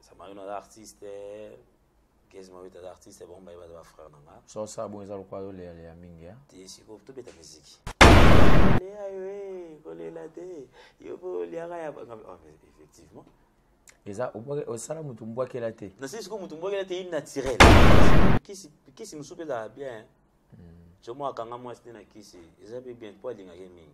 samarino aza artiste kesi mabete aza artiste bango baye baza bafrère na nga sosa bongo eza lokola yo leya leya mingi ya te sikoyo tobeta miziki leya yo e kolela te yo mpo oliaka ya oh, effectivement eza osala motu mbwakela te nasi sikoyo motu mbwakela te innaturel kisi mosusu mpe ezala bien jomo hmm. akanga mwasi te na kisi eza mpe bien mpo alingaki mingi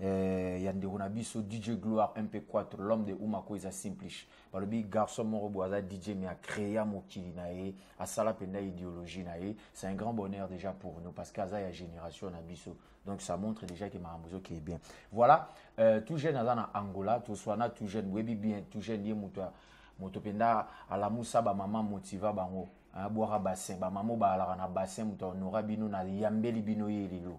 eh, ya ndeko na biso dj gloire mp4 l'homme de umako eza simplish balobi garçon moko boye aza dj me acrea mokili na ye asala mpenza idéologie na ye c'est un grand bonheur déjà pour nous parce que aza ya génération na biso donc ça montre déjà que makambo ezokeye bien voilà euh, tout jeune aza na angola toswana tout jeune boyebi bien tout jeune ye moto moto mpenza alamusa bamama motiva bango bwaka bassin bamama obalaka na bassin moto ahonora bino na yambeli bino ye lelo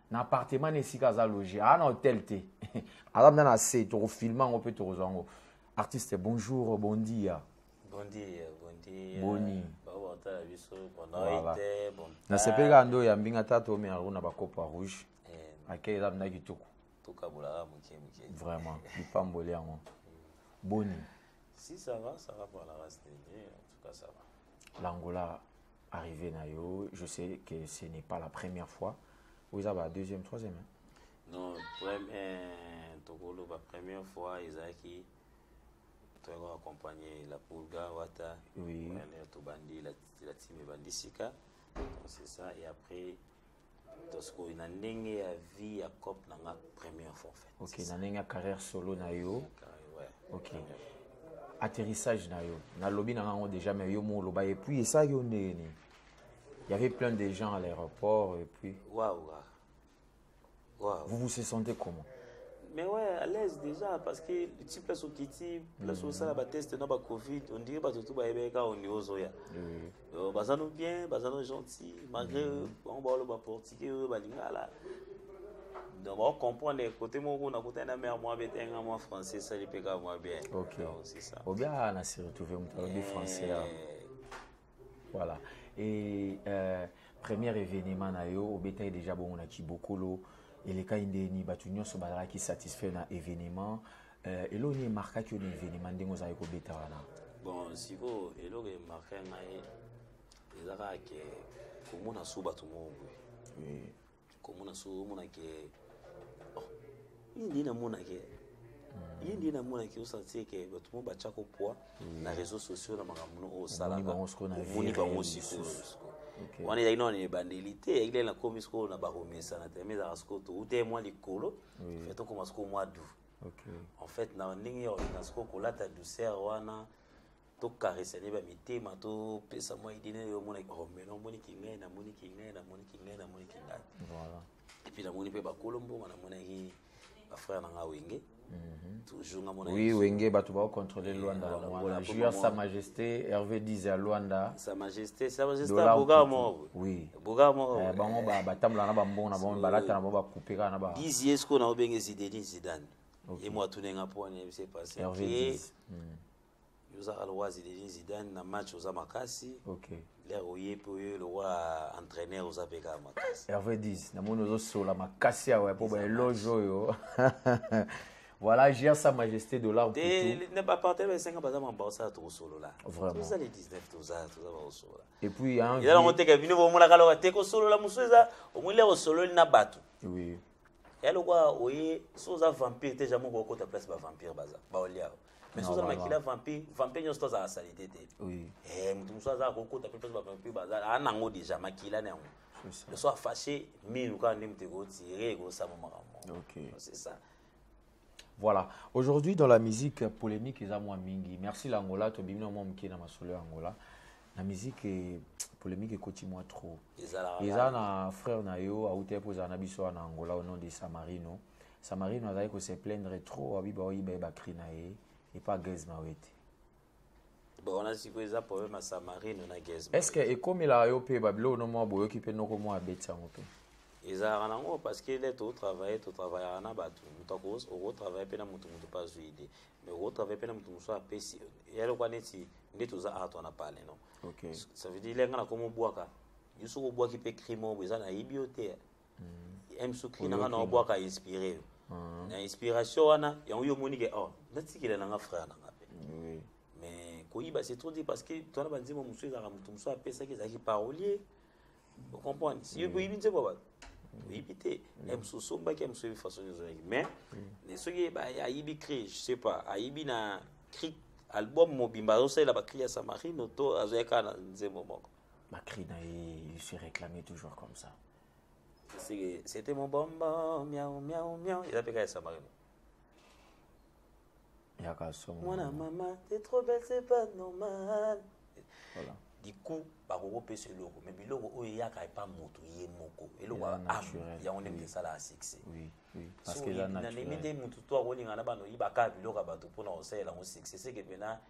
na appartement na esika aza loge aa na hotel te aza mpenza na se tokofilme yango mpe tokozwa yango artiste bonjour bondia bondia bondia boni bakotala biso bonoi te nasepeli kaka nde oyambi nga ta toomela yango na bacopa rouge eh, akei eza mpenza kitoko tokabolaka moke moke vraiment lipamboli yango boni si ça va ça va pour la race de Dieu en tout cas ça va l'angola arrivé na yo je sais que ce n'est pas la première fois oyo eza ba deuxième troisième hein? non première tokoloba première fois ezalaki toyaki koaccompagne la pulga wata oui. tobandi la, la team ebandi sika c'est ça et après sikoyo na ndenge ya vie ya cop na nga première fois fait ok na ndenge ya carrière solo na yo ok atterrissage na yo nalobi na ngango déjà mais yo mo oloba et puis esa yo ndenge nini il y avait plein de gens à l'aéroport et puis waouh Wow. Vous vous sentez comment mais ouais à l'aise déjà parce que ti place okiti place osala bateste na bacovid ondire bato tu bayebeki kaka ondi ozoya baza no bien baza no gentil malgré bango baoloba portugais oyo balingala donc baocomprendre kote moko nakutani na mare mwa bete nga mwa français esali mpe kaka mwa bien c'est ça obiaa na se retrouve moto alobi français Voilà. Et euh, premier événement na yo obetaki déjà bongo na Kibokolo elekaki ndeni bato nyonso bazalaki satisfait na événement euh, eloko nini emarkaki yo na événement ndenge ozalaki kobeta wana bon sikoyo eloko emarka ngai eza kaka ke komona so bato moko boye komona so omona ke oh, ye nde namona ke hmm. ye nde namona ke osantie ke bato mo batyako poids hmm. na réseau sociaux na makambo no oyo osalakaomoni bango sikoyo wana ezalaki nano na ebandeli te eyaki lele nakomi sikoyo na bakomesana te me ezalaka sikoyo toutee mwa likolo fe tokoma sikoyo mwa du en fait na ndenge ya olina sikoyo kolata douceur wana tokaresane bamitema topesa mwa ide nini omona oh, mena omoni kingai namoni kingai namoni kingai namoni kingai epuis namoni mpe bakolo mbongo namonaki bafrère na nga wenge mhm. toujours nga mona oui wenge bato baocontrole luanda eh, bamwana junior sa majesté hervé dise ya luanda sa majesté sa majesté boka moko oui boka moko eh, bango batambola na bambongo na bango balata na bango bakupe kaka na ba dise ye sikoyo na obenge zideni zidane ye mwa tunenga mpo wana yebisa epase hervé dise oza aloise denis zidane na match oza makasi okay. lere oye mpe oye lokola entraîneur oza mpe kaka makasi herve 10 namoni ozosola makasi awa mpo baeloge oyo voilà jia sa majesté dollar ne bapartene basenga baza mamba osala tokosolola vraimenttoza le 19 toza toza bakosolola epuis eza nango teke bino bomonaka loka te kosolola mosusu eza omoni lere osololi na bato oui ya lokola oye so oza vampire te jamai okokota place bavampire baza baolia mais soki oza na makila vampire vampire nyonso to azala salite te eh, moto mosusu azala kokota mpe mpe bavampire bazala aa nango deja makila na yango le soir fâché minu kaka nde moto ekotire ekosama makambo c'est ça Voilà. Aujourd'hui, dans la musique polémique, ils moins mingi. Merci l'Angola, tu bimino moi mki na masolo Angola. La musique est polémique et coach moi trop. Ils ont un frère na yo, a outé pour zanabiso en Angola au nom de Samarino. Samarino azali ko se plaindre trop abi ba oyiba ye ba cri na ye et pas Gez Mawete. Bon on a siko eza problème ya Samarino na Gez. Est-ce que ekomela yo pe ba bilo no mwa boyoki pe noko mwa abeti yango pe? ezalaka nango parce que le totravaille totravaillaka na bato moto okotravaille mpe na moto moto mpe azwi ide mais okotravaille mpe na moto mosusu apesi ya lokwa neti nde toza art wana pale no okay. ça veut dire lenga na komobwaka yo soki obwaki mpe crime oyo eza nayebi yo te m suki nanga na obwaka inspiré yo ah. na inspiration wana yango yo omoni ke oh natikela nanga frère nanga mpe mais koyiba c'est trop dit parce que twana banzembo mosusu ezalaka moto mosusu apesaki ezalaki parolier ocomprendre si yo boyibi nzembo bato oyebi te na mosusu osombaki ya mosusu oyebi façon nyonso oyaki mais mm. soki ayibi cri je sais pas ayibi na cri album mobimba azosalela bacri ya samarino to azoya kaka na nzembo moko bacri na ye il se réclame toujours comme ça C'était mon bonbon, miaou, miaou, miaou. Il a payé à Samarino. Moi, la maman, t'es trop belle, c'est pas normal. Voilà. Du coup, bakokopesa eloko mais biloko oyo eyaka epa moto ye moko eloko yango nde misala ya succès nandimi te moto to akolingana bana oyibaka biloko ya bato mpona kosalela yango succès seke mpena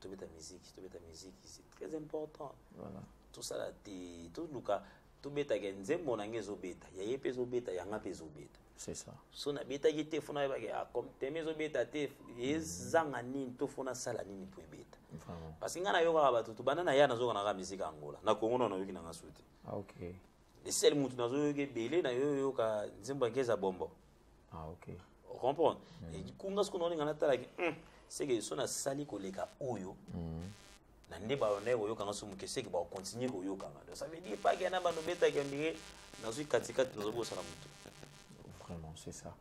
tobeta musique tobeta musique c'est très important voilà tosala te toluka tobetaka nzembo na ngai ezobeta ya ye mpe ezobeta yanga mpe ezobeta c'est ça so nabetaki te fona yebaki ah, comme teme ezobeta te ezanga nini to fona asala nini mpo ebeta parce que ngai nayokaka bato tobanda na ya nazoka naka miziki ya angola na kongo na nayoki nanga su te ah, okay. esele motu nazoyoka ebele nayoyoka nzembo ya ngeza bombo ah, okay. comprendre mm. kunga sikoyo naoninga natalaki mm, seke so nasali koleka oyo mm. na nde balonai koyokanga so moke seke bakocontinue koyokanga donc ça veut dire paki yana banobetaki ondire nazwi katikati nazobosana motu vraiment c'est ça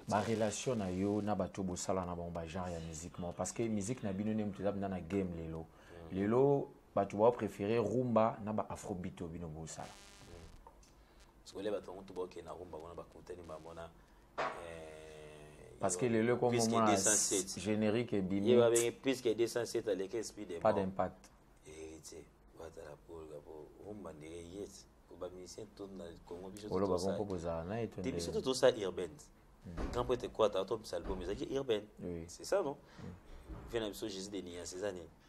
barelation na yo na bato bosala na bango bagenre ya musique moko parce que musique na bino nde moto eza mpenza na game lelo mm. lelo bato baopréféré rumba na ba afrobit oyo bino bosala sikoyo bato yango to bakokende na rumba kuna bakutani bamona eh, parce que lelo ekomomona générique ebimi ye babenge plus que 207 aleki speed pas d'impact héritier batala polga po rumba ndenge yeti bamusicien to na congo biso oloba bongo kozala na ye te biso to tosa urbaine hmm. grand prêtre ekwata atobisa album ezalaki urbaine c'est ça non vie na biso jésus de nias eza nini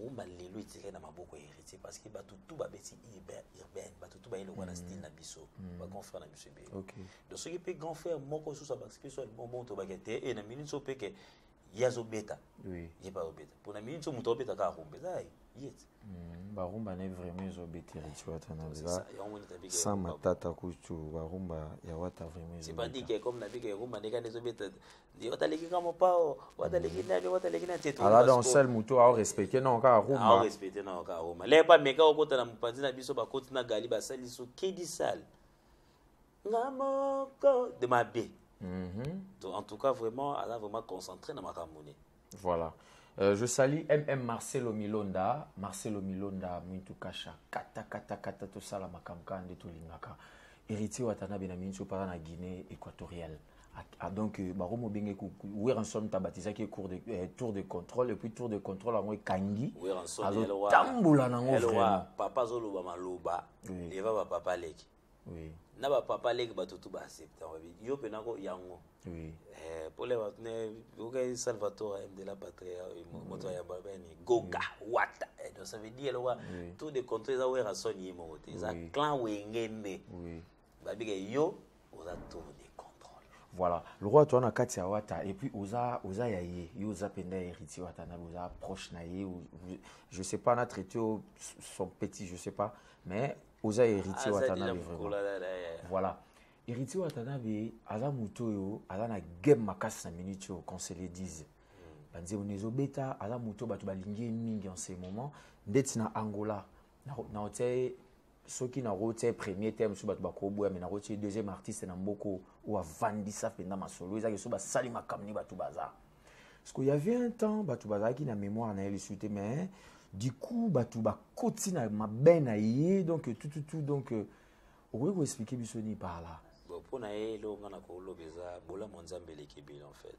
rumba lelo etikali na maboko ya héritier parce que bato tu babeti urbaine bato tu baye lokola na mm. style na biso mm. bagrand frère na biso ebele donc soki mpe grand frère moko susu abakisi mpe so alimomo tobake te e na minute so mpeke ye azobeta ye mpe azobeta mpo na minute so moto azobeta kaka rumba eza ye yet mm, barumba ne vraiment ezobeta héritier wata na lela sans matata kutu barumba ya wata vraiment ezobeta c'est pas dit que comme na bika rumba ndekani ezobeta wataleki nga mopao wataleki mm. nani wataleki nani ala donc seul moto aorespecte nao kaka rumaorespecte nao kaka ruma le bameka okota na mopanzi na biso bakoti na gali basali so kidi sale nga moko de mabe mhm. en tout cas vraiment aza vraiment concentré na makambo ne Voilà. Euh, je salue MM Marcelo Milonda, Marcelo Milonda, Mintu Kasha, Kata Kata Kata, tout ça, la Makamka, Ande Tolingaka, héritier Watanabe na Mintu Para na Guinée équatoriale. Ah, ah, donc, euh, Baro Mobenge, Weransom Tabatisa qui est cours de, euh, tour de contrôle, et puis tour de contrôle, en Kangi, Weransom, Tamboula, Nango, vraiment. Papa Zoloba Maloba, Eva, papa Leki. oui. na bapapa leki bato tu baaccepta wabi yo mpe nako yango oui. eh, pole bato ne okai salvatore de la patria eh, moto ayamba bani goga wata eh, donc ça veut dire eloko oui. tout de contre eza werason ye moko te eza oui. clan wenge nde oui. babika yo oza tour de contrôle voilà lokola toza na kati ya wata et puis oza, oza ya ye yo oza mpenza héritier wata na oza proche na ye je sais pas na traité son petit je sais pas mais oza héritier aza deja watanabe vraiment mokolo aza na ye voilà héritier watanabe aza moto oyo aza na game makasi na minute oyo qu'on se le dise banzembo na ezobeta aza moto oyo bato balingi ye mingi en ce moment ndeti na angola nako- nakotia ye soki nakotia ye premier te mosusu bato bakoboya me nakotia ye deuxième artiste na mboka oyo oyo avandisa mpenza masolo ezaki so basali makambo ni bato baza Parce qu'il y avait un temps, batu bazalaki na mémoire na ye suite, mais du coup batu bakoti na mabe na ye donc tout tout tout donc euh, okoki ko expliquer biso ni par là. Bon pour na ye lo ngana ko loba eza bola mon nzambe leki bil en fait.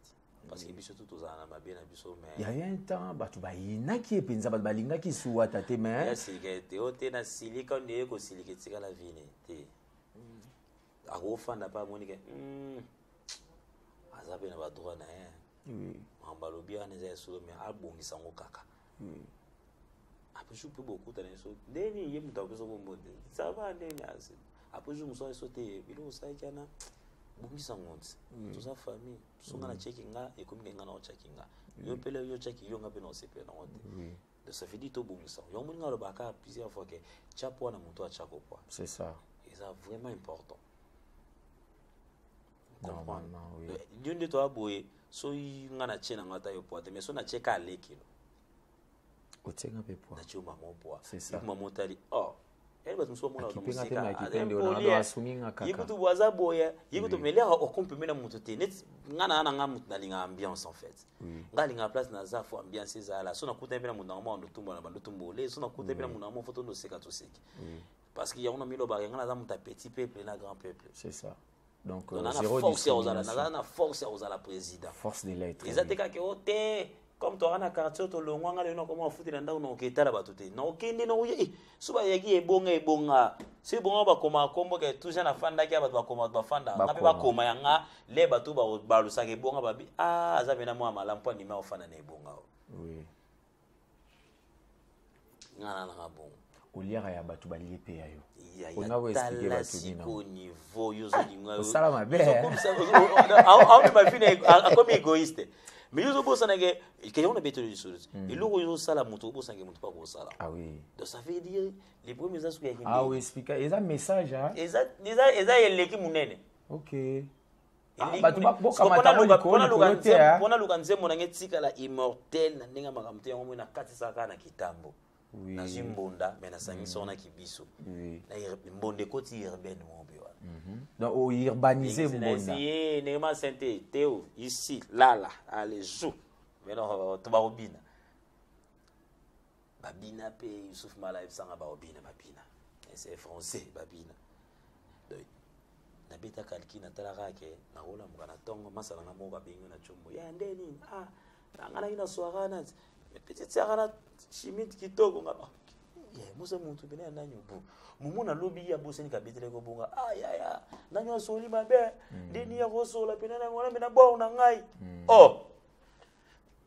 Parce que biso tout tozala na mabe na biso mais il y avait un temps batu bayinaki ye penza batu balingaki suwata te mais. Ya silika te o te na silika nde ko silika etikala vini te. akofanda mpe amoni ke hmm, aza mpe na badroit na ye hmm. makambo balobi wana eza ya solo me abongisa yango kaka hmm. après jour mpe bokutana biso nde nini ye moto apesa kombo te sava nde nini après jour mosusu biso te biloko osalaki wana bongisa ngo nti toza famille biso nga na ceki nga ekomi ke nga na otyaki nga yo mpe leo yo otyaki yo nga mpe na osepela nango te Donc ça veut dire tobongisa yango omoni nga alobaka plusieurs fois ke tya poa na moto atya kopwa c'est ça eza vraiment important normalement oui yo nde toya boye soki nga natye na nga ata yo poa te mais so natye ka alekelo otyeka mpe poa natye yo mama poa C'est ça. mama otali oh yani bato mosusu bamona mozikaye kutu bo aza boye ye kutu mais lere ocompeme na moto te neti ngai naa na ngai moto nalingaka ambiance en fait ngai alingaka place naza fo ambiance ezala so nakutani mpe na moto nango mwa ndotumba na bandotumba ole so nakutani mpe na moto nango mwa fo tondoseka toseki parce que yango na milobaka yango naza moto ya petit peuple na grand peuple c'est ça donc euh, zéro discrimination na force ya kozala président force de l'être eza te kaka o te comme toyaka na quartier tolongwa ngai lelo nakoma bafuti na ndako nakoki etala bato te nakokende nakoye eh, so bayaki ebonga ebonga so ebonga bakomaka kombo ke toujours nafandaki ya bato bakoma bato bafanda nga mpe bakoma ya nga le bato balusaka ebonga babi a ah, aza mpena mwa malamu mpo andimi akofanda na ebonga o nga nalaka bongo oliaka ya bato balie mpe ya yo osala mabeakomi égoïste mais yo ozobosana ke kende wana betolo lisolo eloko oyo ozosala moto obosana ke moto mpo akosala ah donc ça veut dire les premiers eza soki yaeza ah message eza eleki monene ok naluka nzembo nange etikala immortel na ndenge ya makambo te yango moi nakatisaka kaka na kitambo nazwi mbonda mai nasangisi yango na kibiso mbonda ekoti urbaine mobe wana ourbanise mbonda ndenge masente teo ici lala ale jou mais tobakobina babina mpe yusuf mala ebisanga baobina babina c'est français babina donc nabeta kalki natalaka ke nakolamuka na ntongo masala nga moko babengi na combo ya nde nini ah nanganaki na soara na petite sara na chimite kitoko nga ah, mosa motu pene ya nani obo momo nalobi ye abosani kabetelaki obonga ah yaya nani asoli mabe hmm. ndeni ya kosola pene na yango wana mpe na bor na ngai hmm. oh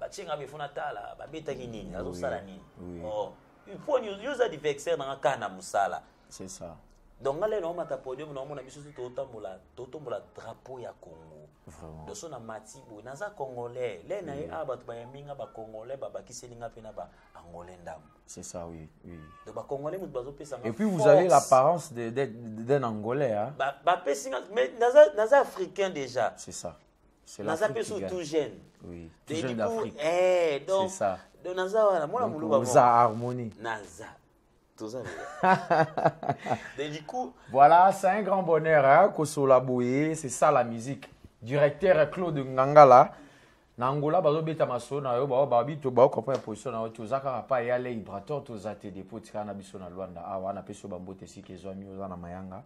batie nga befo natala babetaki nini azosala nini oh, mpo yo oza diversaire nanga kaka na mosala c'est ça donc nga lelo naomata podium naomona biso tu totambola totombola drapeau ya congo doso na mati boye naza congolais le na ye awa bato bayambi nga bacongolais babakiseli nga mpe na baangolais ndambo c'est ça oui oui donc bacongolais moto bazopesa nga et puis vous avez l'apparence d'un angolais hein? bapesi nga mais naza africain déjà c'est ça naza mpe so tout jeune oui. tout jeune d'afrique eh, donc, c'est ça donc naza wana mwana moluba oza harmonie naza toza donc du coup voilà c'est un grand bonheur hein, kosola boye c'est ça la musique directeur claude ngangala na angola bazobeta masolo na yo bao babi to bao comprendre position na yo toza kaka pa ya lei brator toza te depo tikala na biso na luanda awa napesi yo bambote esika ezwami oza na mayanga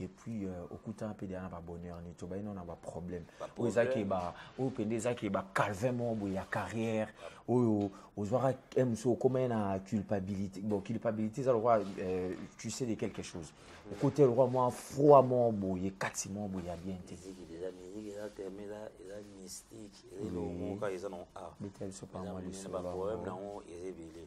et puis euh, okutana mpe deya na babonheur nini tobali nao na baproblème oyo eza ke ba oyo mpenza eza ke bacalvin moko boye ya carrière oyo ozwaka eh, mosu okomai na culpabilité bon culpabilité eza lokola euh, tu sais de quelque chose okote lokola mwa froid moko boye ekati moko boye ya bien te eza na baproblème na yango eza ebele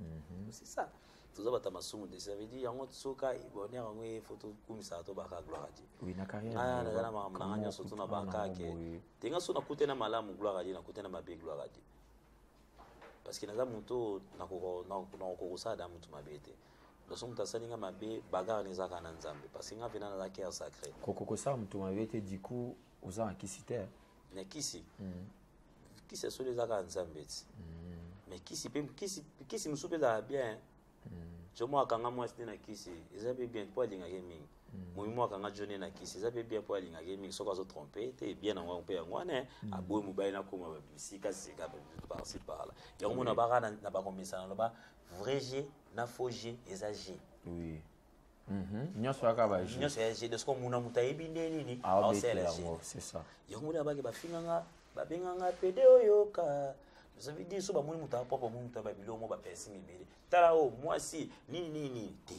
Mhm. c'est ça toza bata masumu de ça veut dire yango soka bonheur yango ye faut tokumisaka tobaka gloire à dieu oui, na carrière ah, naza na makambo nanga nyonso tuna baka ke tenga so nakute na malamu gloire à dieu nakute na mabe gloire à dieu parce que naza moto oyo nakokoka kosala da moto mabe te loso moto asali nga mabe bagare na ezaka na nzambe parce que nga mpena naza cœur sacré kokokosala moto mabe te du coup oza na kisi te na kisi mm. kisi ya solo eza kaka nzambe ti mais mm. kisi mpe kisi mosusu mpe ezalaka bien mm. jo moko akanga mwasi nde na kisi eza mpe bien mpo alingaka ye mingi mm. momi moko akanga jo nde na kisi eza mpe bien mpo alingaka ye mingi soki azotrompe te bien yango mpe yango wana eh, aboyi mobali nakoma babisika sika parci parla yango mona baka na bakomesana loba vrai je na faux je eza je Mhm. nyonso yaka baje nyonso ya jeu de score muna moto ayebi nde nini aosala yango c'est ça yango mona bake bafinga nga babenga nga pede oyo ka ça veut dire so bamoni moto apropre bamoni moto aba biloko mo bapesi mibele tala oyo oh, mwasi nini nini nini te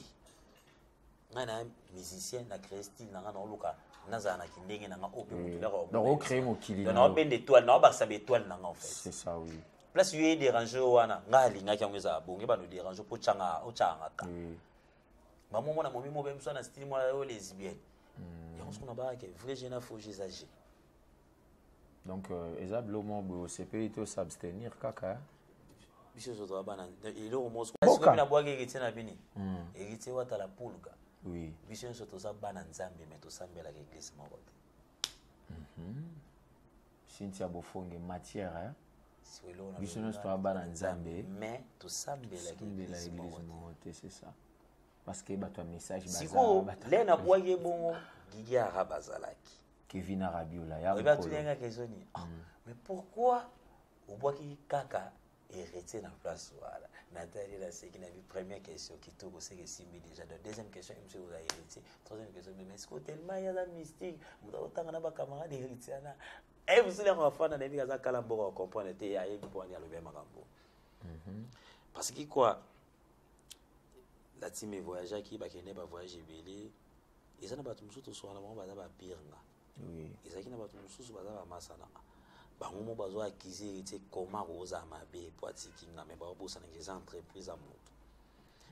ngai na musicien na créer style na ngai naoluka nazala na kindenge na ngai oyo mpe moto laka ocree mokili na obenda étoile na obakisa ba étoile na ngai en fait c'est ça oui place yo ye dérange wana ngai alingaki yango ezala bonge bano dérange mpo otyanga otyanga ka ba momo na momi mo bem so na style mo yo lesbienne hmm. yango sukuna ba ke vrai jeune afo jeux âgé donc euh, eza bilo mo bo sepeli to s'abstenir kaka hein? biso zo to bana eloko mo sukuna sukuna na bwaki ke tsena bini hmm. elitse wata la pulga oui biso nso toza bana nzambe me tosambelaka eglise moko te Mhm. cynthia bofonge matière hein? biso nyonso toya bana nzambe tosambelaka eglise moko te c'est ça parce que bato ya message sikoyo le na bwaki ye bongo gigi ara bazalaki kevin arabiola yaoyebi atunianga kesoni ah, mm. mais pourquoi obwaki kaka héritier na place wana natali naseki na bi première question kitoko seke esimbi déjà donc deuxième question ye mosu ekoza héritier troisième question meme esiko tellement ye aza mystique moto akotanga na bacamarade héritier ana e mosili yango afanda na yebi aza kala mboka akomprendre te ayebi mpo wani alobi ya makambo mhm. parce que quoi la team evoyageaki bakende bavoyage ebele eza na bato mosusu toswana bango baza bapire nga Oui. ezalaki na bato mosusu baza bamasana bango mo bazo akize heritier koma kozala mabe po atiki nga me baobosanaka eza entreprise ya moto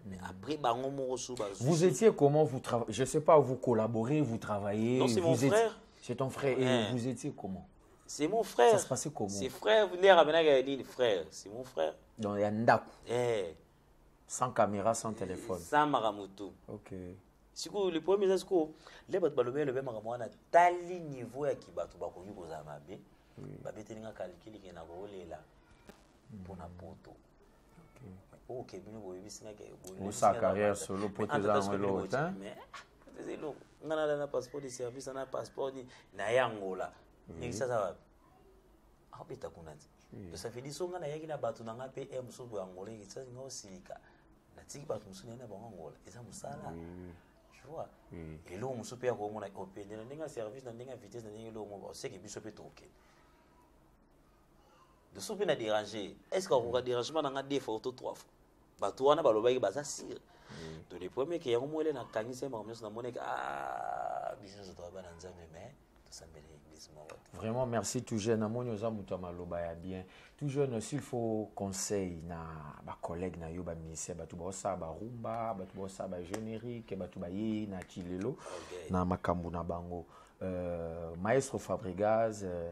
mais hmm. après bango moko su vous étiez comment vous travaillez je sais pas vous collaborez vous travaillez non c'est mon frère c'est ton frère et hein. vous étiez comment c'est mon frère ça se passait comment c'est frère nde abenaka ya nini frère c'est mon frère donc ya ndako eh sans caméra sans téléphone sans makambo tout okay. sikoyo le problème eza sikoyo le bato balobi elobi makambo wana tali niveau ya kibato bakoki kozala mabe babeteli nga calcule ke na kolela mpo na poto oyo kebino boyebisi nga osa carrière solo poto eza yango eloko te eza eloko nga nala na passeport de service na passeport na ye angola ndenge sasa wapi akobeta kuna nzela tosafedi so ngai nayaki na bato na ngai mpe e mosusu boye angola ekisaki ngai osilika natiki bato mosusu naye na bango angola eza mosala tu vois eloko mosusu mpe ya komona opende na ndenge ya service na ndenge ya vitesse na ndenge eloko moko oseke biso mpe tokokende biso mpe na dérange est ce que akoka dérangement na ngai deux fois to trois fois bato wana balobaki baza sire mm. to le premier ke yango mwele nakangisa ye makambo nyonso namonaki ah, biso nyonso toyaba na nzambe mais tosambeli eglise moko vraiment merci tout jeune namoni oza moto ya maloba ya bien tout jeune s'il faut conseil na bacollègue na yo baministère bato baosala barumba bato baosala bagénérique bato bayei na kilelo na makambo na bango euh, maestro fabrigaz euh,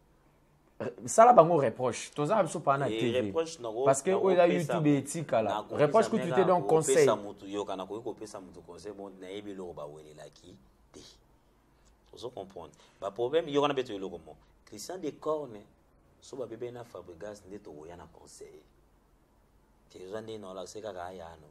sala bango reproche toza na biso mpaa na tv parce que oyo eza youtube etikala reproche kutu te donc conseil motu yoka nakoki kopesa motu conseil bon nayebi eloko bawelelaki te ozo comprendre baproblème yoka na beto eloko mo christian de corne so babebe na fabrigas nde tokoya na conseil te oza nde naolakise kaka ayano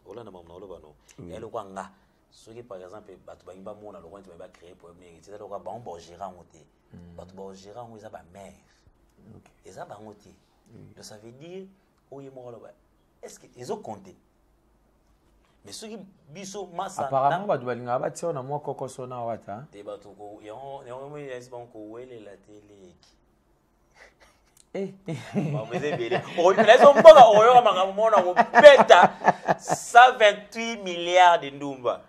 olanda mamu na oloba no ya lokwa nga soki par exemple bato balingi bamona lokwa neti baye bacree problème nini eza lokwa bango baogera yango te hmm. bato baogera yango eza bamare eza bango te donc ça veut dire oye moko aloba est ce que ezocompte mais soki biso masaapparemment bato balingaka batia yo na mwa kokoso na wata te bato yango yango bango kowelela te leki Eh, eh. bakoza ebele okopela ezo mboka okoyoka makambo moko na kobeta 128 milliard de ndumba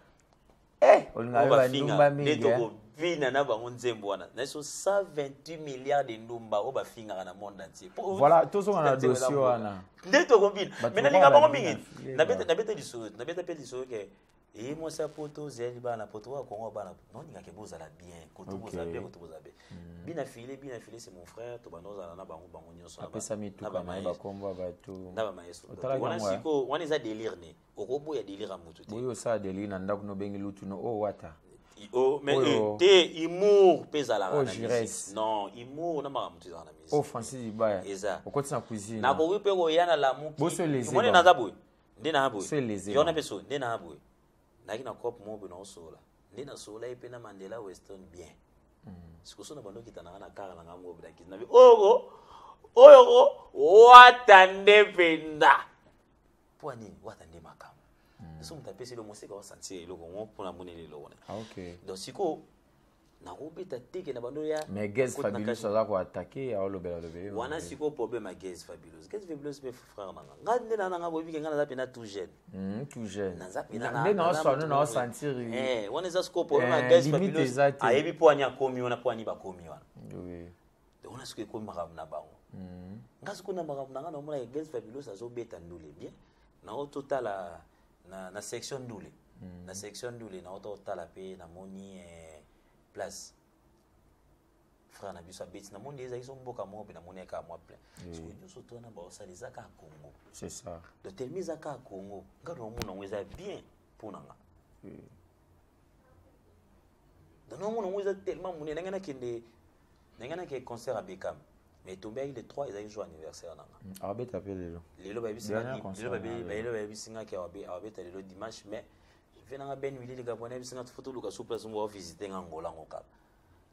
eh, bafinga nde tokobina na bango nzembo wana naiso 128 milliard de ndumba oyo bafingaka na monde entier voilà tozonga na dossier wana nde tokobina mai nalinga bango mingi nabeta lisolo nabeta mpe lisolo ke eye mwasi ya poto zeli bana poto oyo kongo bana noningaka bozala bien koto bozala bien koto bozala bien mm. bina file bina file c'est mon frère to banda ozala na bango bango nyonso apesa mituka na bakombo ya bato na bamaestro wana siko wana eza délire ne okoboya délire ya motu te oyo osala délire na ndako nobengi lutu no o oh, wata Oh, mais oh, te humour mpe ezalaka oh, na musique non humour na makambo motu ezalaka na musique o francis libaya eza okotisa cuisine nakoki mpe koya na lamuki omoni naza boye nde na boye yona mpe so nde na boye nayaki na cope moko boye naosola nde nasola ye mpe na mandela weston bien mm. sikoso na bandokita nanga na kara na ngai moko bilakisi na bi oko oyo ko wata nde mpenza mpo nini wata nde makambo mm. so moto apesi elo moseka osantie eloko ngo mpo na moneli eloko na ah, donc sikoyo nakobeta teke na bando ya mais gaz fabulous aza ko attaquer ya olobela lobela wana siko problème ya gaz fabulous gaz fabulous pe frère nanga nga nde na nanga bobi kenga naza pena tout jeune hmm tout jeune naza pena na nde na so na sentir eh wana eza siko problème ya eh, gaz fabulous ayebi po anya komi wana po ani ba komi wana oui donc wana siko ekomi makambo na bango hmm. nga siko na makambo nanga na mona gaz fabulous azobeta ndule bien na ototala na, na section ndule mm. na section ndule naota otala mpe namoni eh, place frère na biso abeti namoni eza iso mboka moko mpe namoni aka mwa plein soko nyonso to wana baosala eza kaka congo c'est ça donc telemi eza kaka congo ngai naomona yango eza bien mpo na nga donc naomona yango eza tellement monene ngai nakende ndenge nake concert ya Beckham mais etombelaki le 3 ezalaki jour anniversaire nanga mm, abeta mpe lelo lelo bayebisi ngaki abeta lelo dimanche mais ve nanga ben wili likambo wana yebisi nga fo toluka su place moko avisite nga ngola ngo kaka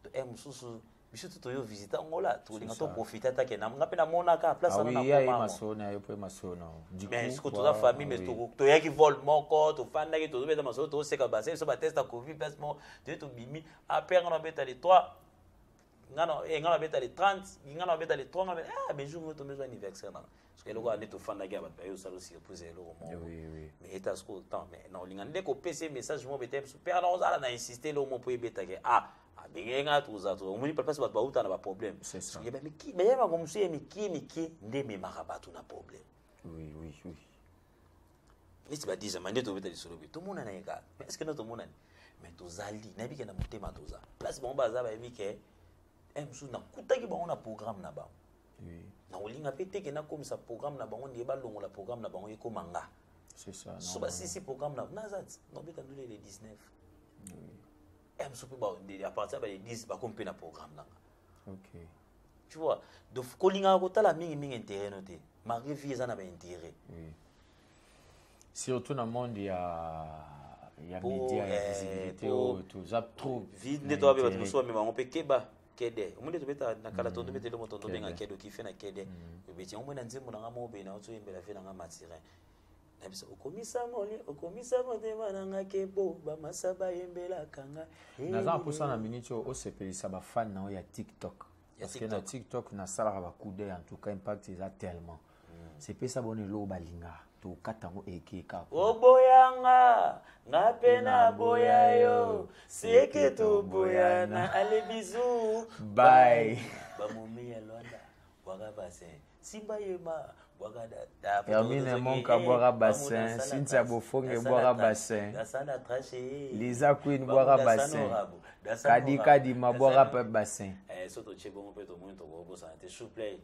to e mosusu biso to toyo visite angola tokolinga toprofite atake nga mpe namonaka place ah mais soki toza famille mais toyaki vol moko tofandaki tozobeta masolo tozoseka base biso bateste ya covid place moko toye tobimi apre nga nabeta le 3 ngana eh, ngana beta le 30 ngana beta le 3 ngana ah mais jour moto mezo anniversaire nana parce que eloko ande to fanda ya bato bayo salo surprise eloko mo oui oui mais eta sko temps mais na olinga nde ko pese message mo beta parce que alors ozala na insister le mo po ebeta ke ah abenge nga toza to omoni papa bato bauta na ba problème c'est ça yeba miki mais yeba ko musu ye miki miki nde memaka bato na problème oui oui oui neti badisa ma nde tobeta lisolo boye tomonana ye kaka mais estce no tomonani mais tozali nayebi ke na motema toza place bango baza bayebi ke eh, mosusu nakutaki bango na programme na bango nakolinga mpe teke nakomisa programme na bango ndeye balongola programme na bango ekoma nga so basisi programme na naza ti nobeta ndule le 19 eh, mosusu mpe à partir ya ba le 10 bakomi mpe na programme nanga tu vois donc kolingaka kotala mingi mingi intérêt no te malgré vie eza na ba intérêt oui. surtout na monde ya ya media ya eh, visibilité oyo toza trop vide nde toabe bato mosusu bamema yango mpe keba kede omoni tobeta na kala tondo bete eloko tondo benga kede okife na kede obeti yango mona nzembo na ngai moko boye na ozoyembela ve na ngai matirin na biso okomisa moli okomisa motema na nga kebo bamasa bayembelaka nga naza na mposa na miniti oyo osepelisa bafani na yo ya tiktok parce que na tiktok nasalaka bakude en tout cas impact eza tellement hmm. sepesa bona eloko balinga tokata yango ekeka oboyanga nga mpe naboya yo seke toboyana ale bizu bai bamomi ya lwanda bwaga bassin simba yema bwaga hermine monka eh, bwaga bassin cynthia bofonge bwaga bassin gasana trache eh. liza queen bwaga bassin kadi kadi ma bwaga pe bassin eh soto che bongo pe to moni to ko bosana te souple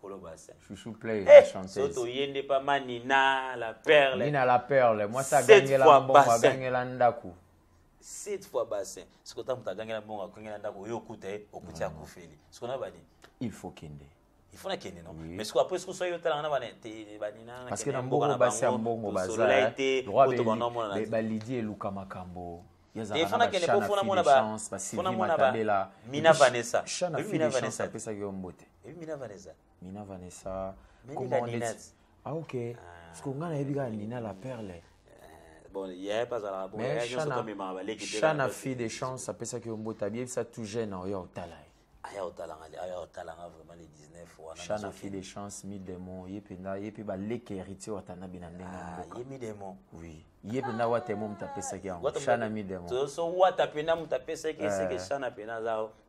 Kolo Bassin. Chouchou Play, hey, eh, la chanteuse. Soto yende pa manina, la perle. Nina la perle. Moi ça gagne la mbongo, gagne la ndaku. sept fois bassin soki ota moto agangela mbongo akongela ndako oyo okuta ye okuti akufeli soki na bani il faut kende il faut nakende no mais soki après soki soki otalanga na bana te banina parce que na mbongo basi ya mbongo baza balidi eluka makambo efanakende po fona mona bafona mona ba mina vanessa mina vanessa apesaki yo mbote mina vanessa mina vanessa Ah ok. Ah. Siko nga nayebi kaka Nina la perle. Eh, bon, il y a pas à Mais Shana, Shana fille de chance apesaki yo mbote abiyebisa tout jeune oyo otala ye. Aya otala nga aya otala nga vraiment les 19 wana. Shana fille de chance mi démon ye penda ye pe ba leke héritier watana bina ndenge ah, mboka. Ye mi démon. Oui. Ye penda wata mo mtapesaki yango. Shana mi démon. To so wata penda mtapesaki c'est que eh. Shana penda zao.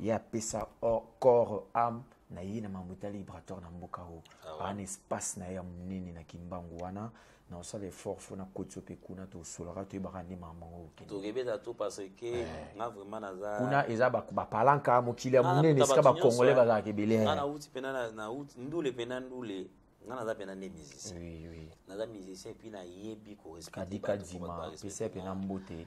ye apesa corps ame na ye na mambo etali libratoire na mboka oyo ah ana espace na ye ya monene na kimbangu wana na osala effort fo na kotisa mpe kuna tosolaka toyebaka nde mama yango tokebeta to parce que eh. nga vraiment naza kuna eza bapalanka mokili ya monene esika bacongolais bazalaka ebele nga nauti mpena nauti ndule mpena ndule nga naza mpena nde musicien naza musicien mpi nayebi korespecte kadika dima pesa mpena mbote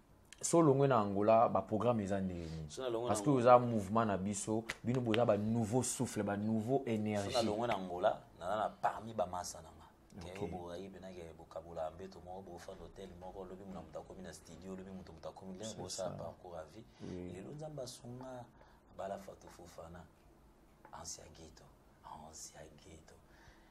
so olongwe na angola baprogramme eza ndenge nini parce que oza mouvement na biso bino boza banouveau souffle banouveau énergielongwe na angola naza na parmi bamasa na nga keyo borayi mpenake bokabola mbeto moko bofanda hotel moko lobi mona moto akomi na studio lobi moto moto akomi lere bosala parcours ya vie lelo nzambe asunga bala fato fofana ancien geto ancien geto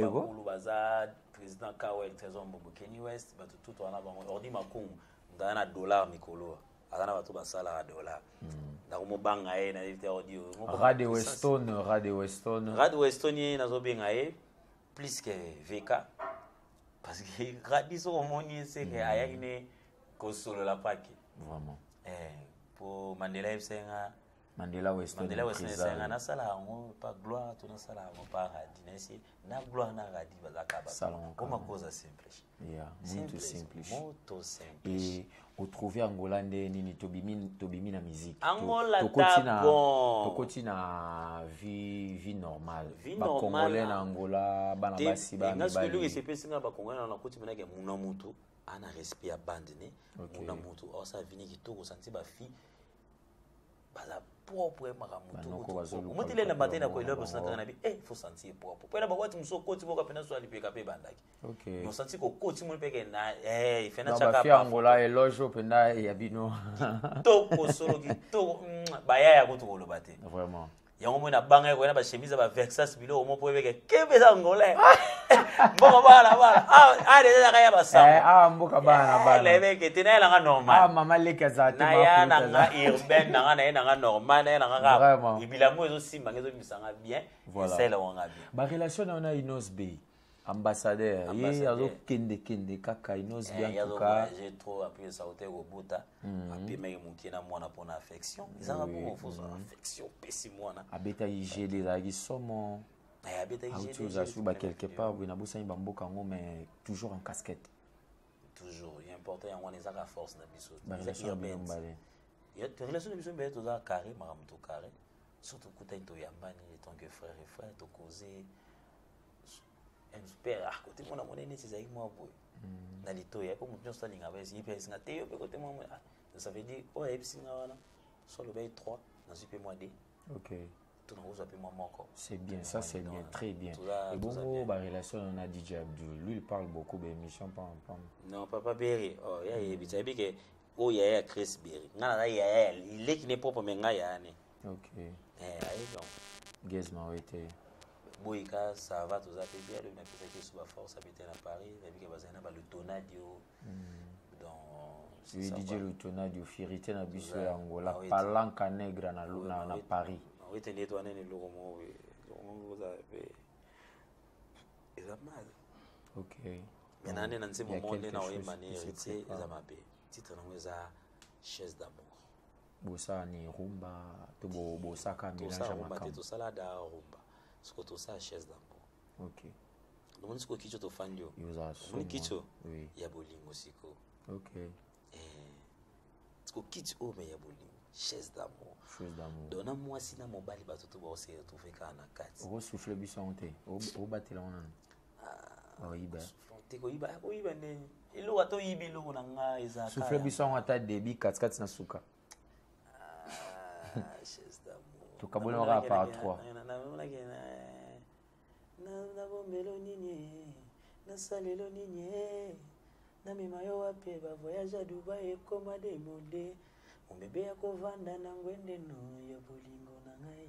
bakulu baza président kawel trésor mbombo kenny west bato tutu wana bango ordi makungu ngaa na dollar mikolo aza na bato basalaka dollar hmm. nakomobanga ye nayebi te ordi rade weston rade weston rade weston ye nazobenga ye plus que vk parce que radi soko omoni ye seke hmm. ayaki ne kosolola pake vraiment eh, po mandela yebisa ye nga Mandela Western Mandela Western esenga nasala yango pa gloire to nasala yango pa radi na esi na gloire na radi bazaka ba koma koza simplish yeah muito simplish muito simplish et au trouver Angola nde nini tobimi tobimi na musique Angola tokoti na tokoti na vie vie normale ba congolais na Angola bana basi ba mibali ngasiko luki sepesi nga ba congolais na koti mena ke muna mutu ana respect ya bande ne muna mutu osa vini kitoko santi ba fille baza propre makambo moto elenda mate na koyela bosana kaka na bi e fo santi ye propre mpo ena bawati mosu okoti moko mpe naso alipeka mpe ebandaki nosanti kokoti moni mpeke na eh, fena cakaangola eloge mpenza ya bino kitoko solo kitoko mm, baya ya kutu koloba te yango moi nabangaki koya na bachemise ya baversas biloko moko mpo ebeke kebe eza ngolais mboka bana bana ah, ah, deja yaka ya basamboka eh, ah, naebeke eh, te nayela nga normalnaya na nga urbaine na nga naye na nga normal naye na nga kaka bilango ezosimba nga ezobimisa nga bien esalelaka nga bien barelation na yo na inos bay ambassadeur ye azokendekende kaka inos biantuka eh, trop appuye saute kobuta hmm. apemaki moke na mwana mpona affection ezanga bongo fozwa hmm. affection opesi mwana abetaki gele ezalaki somo eh, auti ozasuki ba quelque part boye nabosani bamboka yango mais toujours en casquette toujours important yango wana ezaka force na biso relation na biso mbele toza carré makambo to carré surtout kutani toyambani etant que frère et frère tokoze père ah kote mwana monene neti ezalaki mwa boye hmm. na litoyi ya mpo moto nyonso alinga bayesi ye mpe ayesinga te yo mpe kote mwa mwa ah, ça veut dire oyo ayebisi nga wana so alobaki trois nazwi mpe mwa de okay tonakozwa mpe mwa moko c'est bien ça c'est bien très bien ebongo barelation yo na dj abdul lui il parle beaucoup baémission pam pam non papa beri oh, ya yebisa yebi ke oyo yaya ya chris beri nga naza yaya leki ne propre me nga yaya ne okay eh aye donc gez mawe te boyika ça va toza mpe bien lobi napesaki yesu baforce abeta na paris nabike bazali na balutonadio hmm. donc didie lutonadio fierité na biso ya angola ah palanka negre na, na, na paris wete nde twana ni eloko moko boye eloko moko boza mpe eza mal ok mais nane na nse momo nde na oyemba ne héritier eza mabe titre nango eza chaise d'amour bosala ni rumba to bosaka melange ya makambo te tosala da rumba siko tosala chaise d'ango ok omoni siko kicho tofandi yo omoni kicho oui. ya bolingo siko ok eh, siko kicho oyo oh, me ya bolingo chaise d'amour chaise d'amour donc na mwasi na mobali bato to baoseretrouve kaka na kati okosufle biso yango te obatela yango nano oyiba te koyiba koyiba nde eloko ata oyibi eloko na nga eza souffle biso yango ata debi katikati na suka ah, tokabolanaka par trois nabombelo nini nasalelo nini namema yo wapi bavoyage ya dubai ekoma demode mobebe ya kovanda na ngwende no ya bolingo na ngai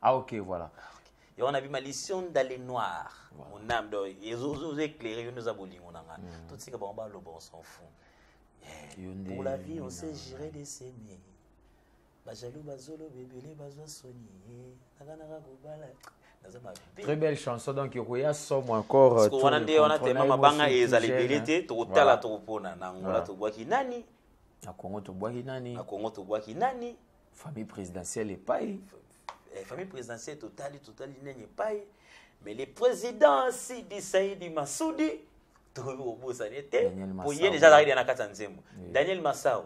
Ah ok, voilà. Et on a vu ma mission dans les noirs. Mon âme, ils ont éclairé, ils nous ont bolingo nanga. Mm. Tout ce que bon, le bon s'en fout. Eh, pour la vie, on sait gérer des semis. bajaloux bazoloba ebele bazwa soni eh, nakanaka kobala très belle chanson donc okoya somo encore euh, wana nde wana tema mabanga ezala ebele te tokotala tokopona na ngola tobwaki nani na kongo tobwaki nani na kongo tobwaki nani famille présidentielle epai eh, famille présidentielle totali totali nini epai mais le président sidi saidi masudi tokoki kobosana ye te po ye deja azalaki na kati ya nzembo daniel masao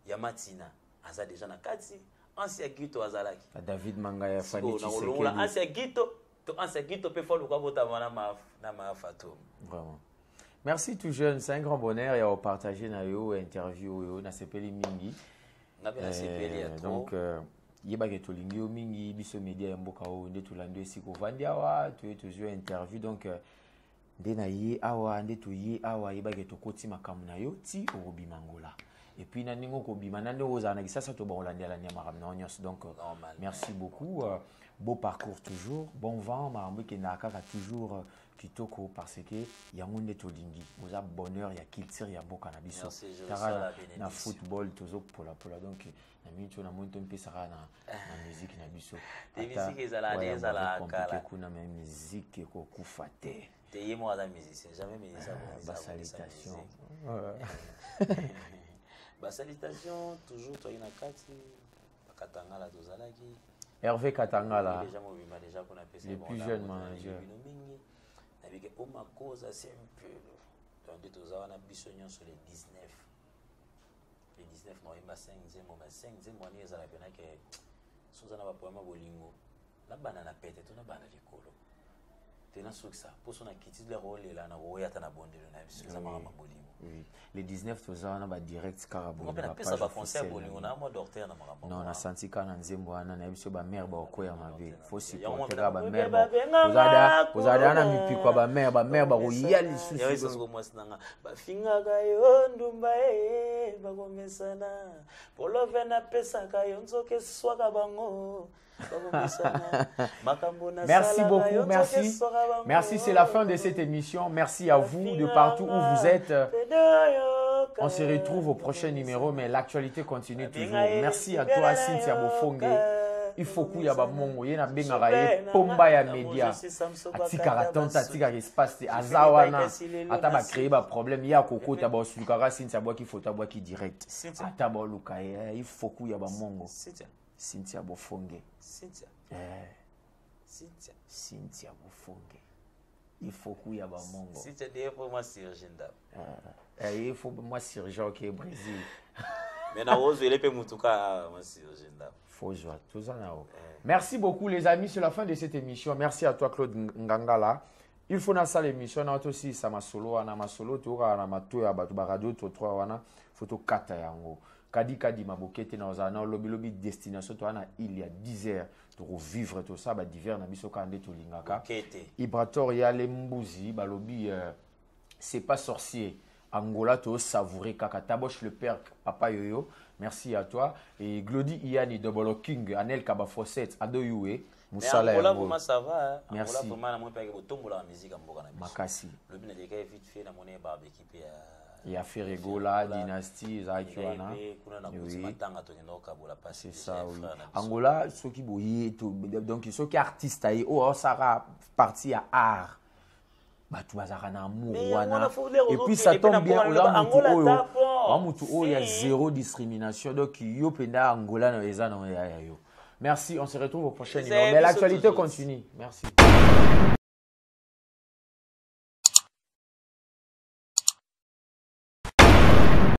ya matina aza deja na kati ansi ya gito azalaki david mangaya faniolongola ansi ya gito To ansa kito pe fo luka bota wana maf na mafa to. Vraiment. Merci tout jeune, c'est un grand bonheur ya partager na yo interview yo na sepeli mingi. Na bien sepeli ya eh, trop. Donc euh, yebake tolingi yo mingi biso media ya mboka oyo nde tolandi esika ovandi awa toye tozwi interview donc euh, nde na ye awa nde toye awa yebaki tokoti makambo na yo ti okobima ngola epuis na ndenge okobima na ndenge ozala na kisasa to bakolandela nia makambo na yo nyonso donc euh, merci beaucoup euh, beau parcours toujours bon vent makambo ekendaka kaka toujours euh, kitoko parce que yango nde tolingi oza bonheur ya culture ya mboka na biso tara na football tozopolapola donc na mincho na moni tompesaka na, na miziki na biso miziki ezala nde ezala kala kuna me miziki ekokufa te te ye moko aza musicien jamais musicien ah, basalitation basalitation toujours toyaki na kati bakatangala tozalaki herve katangala deja mobima deja kuna pesa le plus jeune manager bino mingi nabike omakoza sempelo donc nde toza wana biso nyonso le 19 le 19 novembre 5 nzembo mais 5 nzembo wana ezala pena ke soza na bapoema bolingo nabanda na pete to nabanda likolo te nasukisa mposo nakitile kolela na koya ata na bondelo na biso eza makambo bolingo le 19 toza wana badirect kaka bolingonapesa baconseil ya bolingo na mwa docteur na makambo non nasanti kaka na nzembo wana nayebi biso bamare bakokwea mabe fosiponteka bamere kozala na mipiko ya bamere bamere bakoya lisusu mwasi nanga bafingaka yo ndumba e bakomesana polove napesaka yo nzoka eswaka bango merci beaucoup, merci. Merci, c'est la fin de cette émission. Merci à vous de partout où vous êtes. On se retrouve au prochain numéro, mais l'actualité continue. continue toujours merci à toi cynthia bofonge ifoku ya bamongo ye nabengaka ye pomba ya media atikaka tante atikaka espace te aza wana ata bacreye baproblème ye akokota baosulukaka sinti abwaki foto abwaki direct ata baoluka ye eh, ifoku ya bamongo cynthia bofonge cynthia eh. bofonge ifoku ya bamongo si tu dis pour moi surgent ndap ah, eh, il faut moi surgent ok brésil mais na ozo ele pe mutuka ah, moi surgent ndap faut joie tout ça na eh. merci beaucoup les amis c'est la fin de cette émission merci à toi Claude Ngangala il faut nasala émission na to si ça masolo wana masolo to ka na mato ya bato ba radio to trois wana faut to kata yango kadi kadi mabokete na ozala na lobi lobi destination toa na ile ya 10 heures tokovivre tosala badiver na biso kaka nde tolingaka ibrator yale mbuzi balobi euh, c'est pas sorcier angola tosavoure kaka taboche le père papa yoyo merci à toi et glody iani double king anel kaba fossette ado yue musala ya ngo ça va hein. merci Angola vraiment na moi pe botombola la musique mboka na biso makasi lobi na leka vite fait na mone ba équipe ya ya Ferregola dynastie ezalaki wana c'est ça oui Angola soki boye donc soki artiste aye oyo oh, asaka partie ya art bato bazalaka na amour wana et puis ça tombe bien oza motu oyo oa motu oyo ya zéro discrimination donc yo mpenza angola na eza na ya yo merci on se retrouve au prochain numéro mais l'actualité continue merci